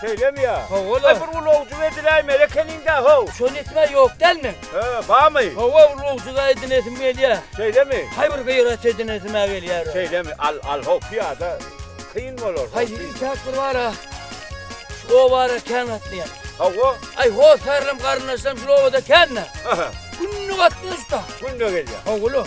Şeýlemi ýa? Hawa-la. Aý, bir ulagjuk ediläý melekeniň-dä, how! Şony etmä ýok dälmi? Hä, barmy? Hawa, ulagjuk-a edinesim gelýär. Şeýlemi? Haý, bir gyrat edinesim-ä gelýär. Şeýlemi? Al, al, how, pyýada kyn bolar. Haý, ýeke-täk bir bar-a. Şu obara kän gatnaýar. Hawa. Aý, hossarlam, garyndaşlam şul obada kän-dä. Aha. Günde gatnaýar şu-da. Günde gelýär. Hawa-la.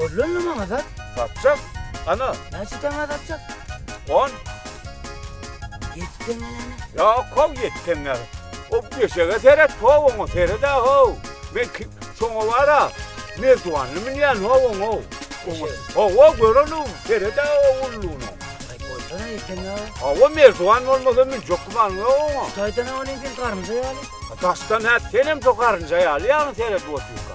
Öllünni maňa sat. Satjak. Ana. Näçe teňňä satjak? On. Ýedi teňňe näme? Ýok, how ýedi teňňe. O peşege seret, how oňa seret-ä, how. Men şoňa bar-a, merdiwanly münýän, how oňa. Hawa, göreli, seret-ä o ulluny. Aý, goýsana ýedi teňňä. Hawa, merdiwan bolmasa münjek gümanyň ýok oňa. Şu taýdan-a ony sen garynja ýaly. Daşdan-a senem şo garynja ýaly ýaňy seredip otyrka.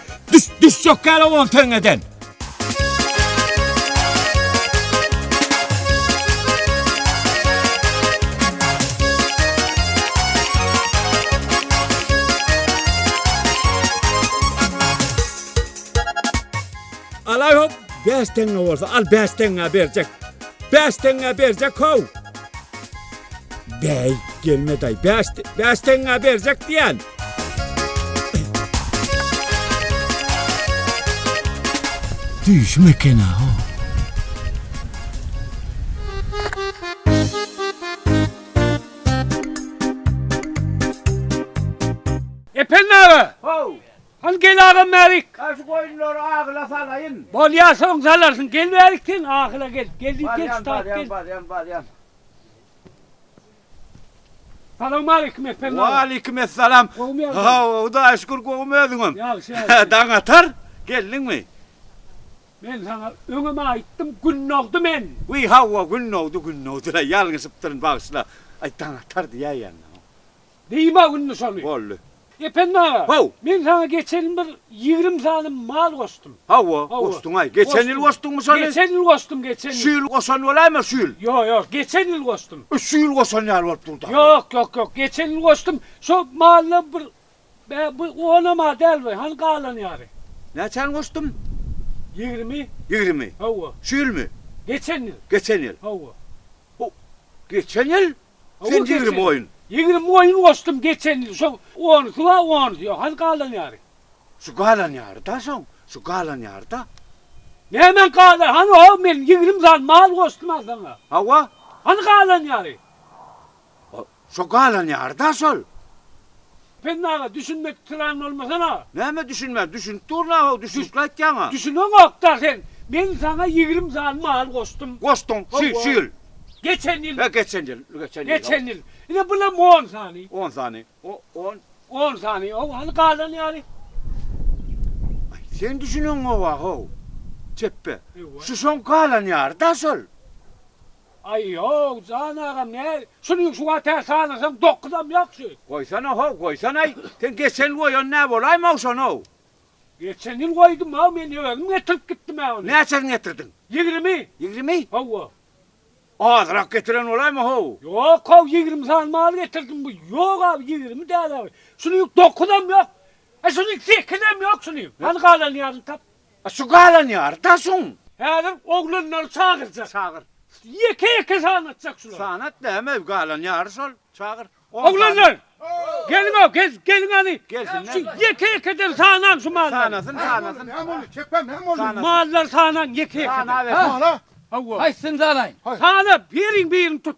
Düş, düş yok gel oğlum töňeden. Alay hop, beş tenge olsa, al beş tenge bercek. Beş tenge bercek hov. Bey, gelme day, beş, beş tenge bercek diyen. Düýşüm ekena ho. Ependi aga! How! Hany gel agam bärik! Hany şu goýunlary ahyla salaýyn. Bolýar, soň salarsyň. Gel bärik sen, ahyla gel. Gel diýip gel, şu tarap gel. Barýan, barýan, barýan. Salowmaleýkim Ependam. Waleýkim essalam. Gowmy ýagdaý? Hawa, Hudaýa şükür gowym özüňem. Ýagşy ýagşy. Daň atar geldiňmi? Men saňa öňem aýtdym gün dogdy men. Wiý hawa gün dogdy gün dogdyla ýalňyşypdyryn bagyşla. Aý daň atar diýäýýändim. Diýme indi şony. Boldy. Ependi aga, Haw. men saňa geçen ýyl bir ýigrimi sany mal goşdum. Hawa, Hawa. goşduň-aý. Geçen ýyl goşduňmy şony? Geçen ýyl goşdum, geçen ýyl. Şu ýyl goşan bolaýma, şu ýyl. Ýok, ýok, geçen ýyl goşdum. E, şu ýyl goşan ýaly bolup dur-da. Ýok, ýok, ýok, geçen ýyl goşdum. Şo mallar bir bä, bu onam a däl bu, hany galan ýary. Näçäni goşdum? Ýigrimi. Ýigrimi. Hawa. Şu ýylmy? Geçen ýyl. Geçen ýyl. Hawa. Haw. Geçen ýyl? Sen ýigrimi oýun. Ýigrimi oýun goşdum geçen ýyl şo onusy ba onusy ýok hany galan ýary. Şu galan ýary da şoň şu galan ýary da. Nämäň galan hany ho men ýigrimi sany mal goşdum a saňa. Hawa. Hany galan ýary. Şo galan ýary da şol. Penni aga düşünmek kran bolmasana. Näme düşünmän, düşünip durna how, düşünikli aýtýaňa. Düşüneňokda sen, men saňa ýigrim sany mal goşdum. Goşduň, şu, şu ýyl. Geçen ýyl. He geçen ýyl, geçen ýyl. Geçen ýyl. Ine bulam on sany. On sany, o, on. On sany, how, hany galan ýary. Aý, sen düşüneňoga how, çepbe. Şu şoň galan ýary da şol. Aý, ýok, jan agam, näz, şuny şu wagt tä salyrsaň dokuzam ýagşy. Goýsana-how, goýsana-aý, sen geçen ýyl goýan nä bolaýma-ow şony-ow? Geçen ýyl goýdum-ow, men özüm getirip gitdim-ä ony. Näçesini getirdiň? Ýigrimi. Ýigrimi? Hawa. Azrak getiren bolaýma-how? Ýok-ow, ýigrimi sany mal getirdim, bu, ýok abi, ýigrimi däl-ä, şuny dokuzam ýok, e, şuny sekizem ýok şuny, hany galanyny ýazyň, tap. A şu galanýar da şuň. Häzir oglanlary çagyrja. Çagyr. Ýeke ýeke sanatjak şulary. Sanat da hemem galanýary şol çagyr. Oglanlar geliňo geliň hany. Gelsinler. Şu ýeke ýekeden sanaň şu mallary. Sanasyn sanasyn. Hem ony çekem hem ony. Sanasyn. Mallary sanaň ýeke ýekeden. Sanabersin. Sanaw. Hawa. Haýsyny sanaýyn. Sana biriň birini tut.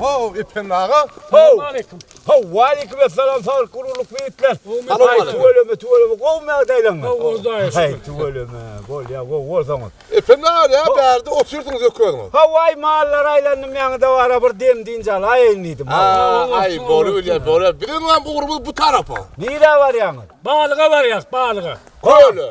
Ho, Ependi aga. Ho. Ho, waleýkim essalam, sag gururlyk beýikler. Aý, tüweleme, tüweleme, gowy mägdäýleňmi? Gowy, Hudaýa şükür. Aý, tüweleme, bolýa, gowy bolsaňyz. Ependi aga, näme bu ýerde otyrdyňyz öküziňiz? Ho, aý, mallary aýlandym, ýaňyda bara bir dem dynç alaýyn diýdim. Aý, bolup bilýär, bolup. Biziňem ugrumyz bu tarapa. Nirä barýaňyz? Balyga barýas, balyga. Köle.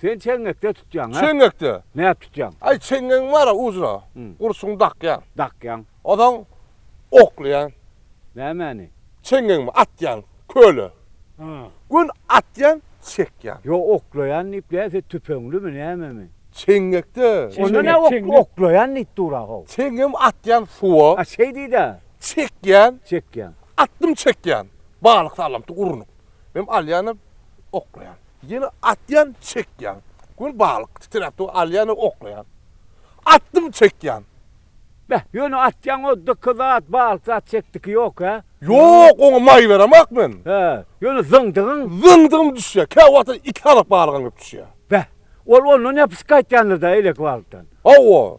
Sen çeňňekde tutýaň, hä? Çeňňekde. Näp tutýaň? Aý, çeňňegiň bar-a ujuna. Gurçugyny dakýaň. Dakýaň. Onsoň oklaýaň. Nämäni? Çeňňegimi atýan köle. Gün atýan, çekýän. Ýo, oklaýan diýip näse tüpeňlimi, nämemi? Çeňňekde. Onda nä oklaýan diýip dur-a-how? Çeňňegimi atýan suwa. A şeý diýd-ä. Çekýän. Çekýän. Atdym çekýän. Balyk salamty urunyp. Mem alýan oklaýan. Ýene atýan çekýan. Gün balyk titräp dur alýan oklaýan. Atdym çekýan. Beh ýöne atýan o dyky zat balyk zat çekdiki ýok hä. Ýok oňa maý beremak men. Hä ýöne zyňdygyň. Zyňdygym düşýä kä wagta iki halak balygam kep düşýä. Beh ol ondan ýapyşyp gaýtýandyr da eleki balykdan. Hawa.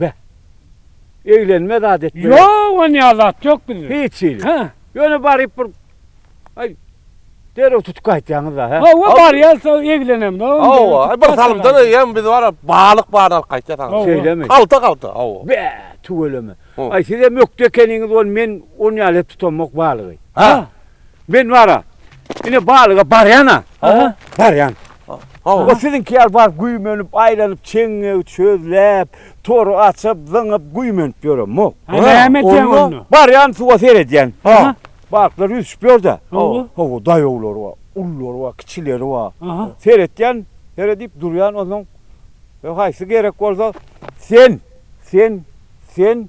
Be. Eglenme zat etme. Ýok on ýa zat ýok bizde. Hiç hili. Hä. Ýöne baryp bir Aý derew tutup gaýtýaňyz da hä. Hawa barýas da eglenem da. Hawa bir salymdan eýýäm biz bara balyk baryny alyp gaýtýas aňa. Şeýlemi. Galta galta hawa. Be tüweleme. Aý sizem ökde ekeniňiz ol men on ýaly tutamok balygy. Hä. Men bara. Ine balyga barýan-a. Aha. Barýan. Hawa. O siziňki ýaly baryp güýmenip, aýlanyp, çeňňegi çözläp, tory açyp, zyňyp, güýmenip ýöremok. Ha, näme edýäň onda? Barýan suwa seredýän. Aha. Balyklar ýüzüşip ýör-dä. Hawa. Hawa, daýawlary bar, ululary bar, kiçileri bar. Aha. Seretýän, seredip durýan, onsoň haýsy gerek bolsa, sen, sen, sen,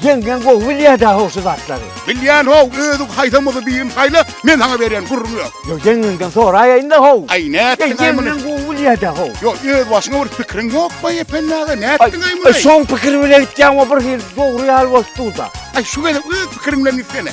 Ýeňňeň gowy bilýär-dä how şu zatlary. Bilýän how, özüň haýsam bolsa birini saýla, men saňa berýän gürrüň ýok. Ýok, ýeňňeňden soraýaýyn-da how. Aý, nätdiň-aý muny? Ýeňňeň gowy bilýär-dä how. Ýok, öz başyňa bir pikiriň ýokmy-aý Ependi aga, nätdiň-aý muny? Aý, şoň pikiri bilen gitýäň-ow, birhili dogry ýaly bolup dur-da. Aý, şu gezek öz pikiriň bilen gitsene.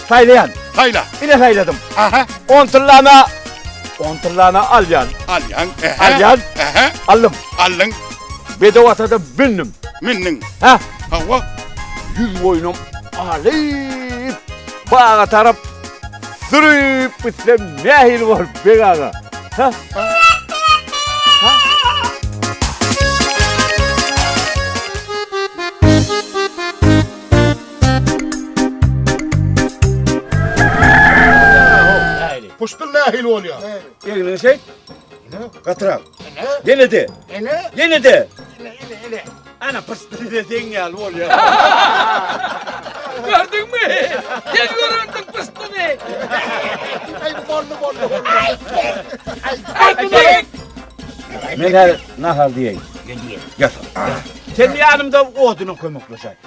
Saýlaýan. Saýla. Ine saýladym. Aha. 10 tyllana 10 tyllana alýan. Alýan. Ehe. Alýan. Ehe. Aldym. Aldyň. Bedew atada bindim. Mindiň. Ha? Hawa. Ýüz boýnum alyp baga tarap sürüp gitsem nähili bolup beg aga? Ha? Puştun nähili bolýar? Egniňi şeýt. Gatyrak. Ýene de. Ene? Ýene de. Ene, ene, ene. Ana puştun de seň ýaly bolýar. Gördüňmi? Sen görerdiň puştuny. Ay boldu boldu. Ay. Ay bu da. Men her nahar diýeýin. Gel diýeýin. Gel. Sen ýanymda odyna kömekleşäý.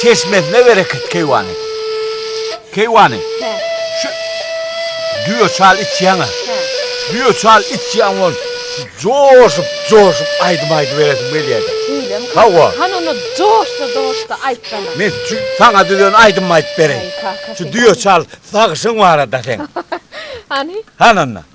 Çeşmesine bereket keýwany. Keýwany. Hä. Şu düýe çal içýäňä. Hä. Düýe çal içýäň bol. Joşup, joşup aýdym aýdyp beresiň gelýädi. Şeýlemi? Hawa. Han onda joşda, joşda aýtsana. Men şu saňa düzen aýdym aýdyp bereýin. Şu düýe çal sagyşyň barada seň. Hany? Han onda.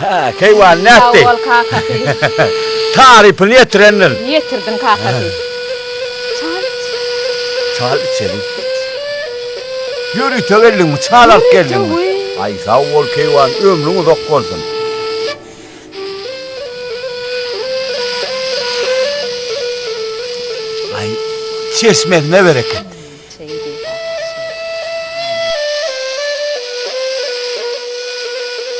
Hä, keýwany nätdi? Sag bol, kakasy. Tarypyny ýetirendir. Ýetirdim, kakasy. Çal iç. Çal içeliň. Ýörite geldiňmi, çal alyp geldiňmi? Aý, sag bol, keýwan, ömrüň uzak bolsun. Aý, çeşmesine bereket.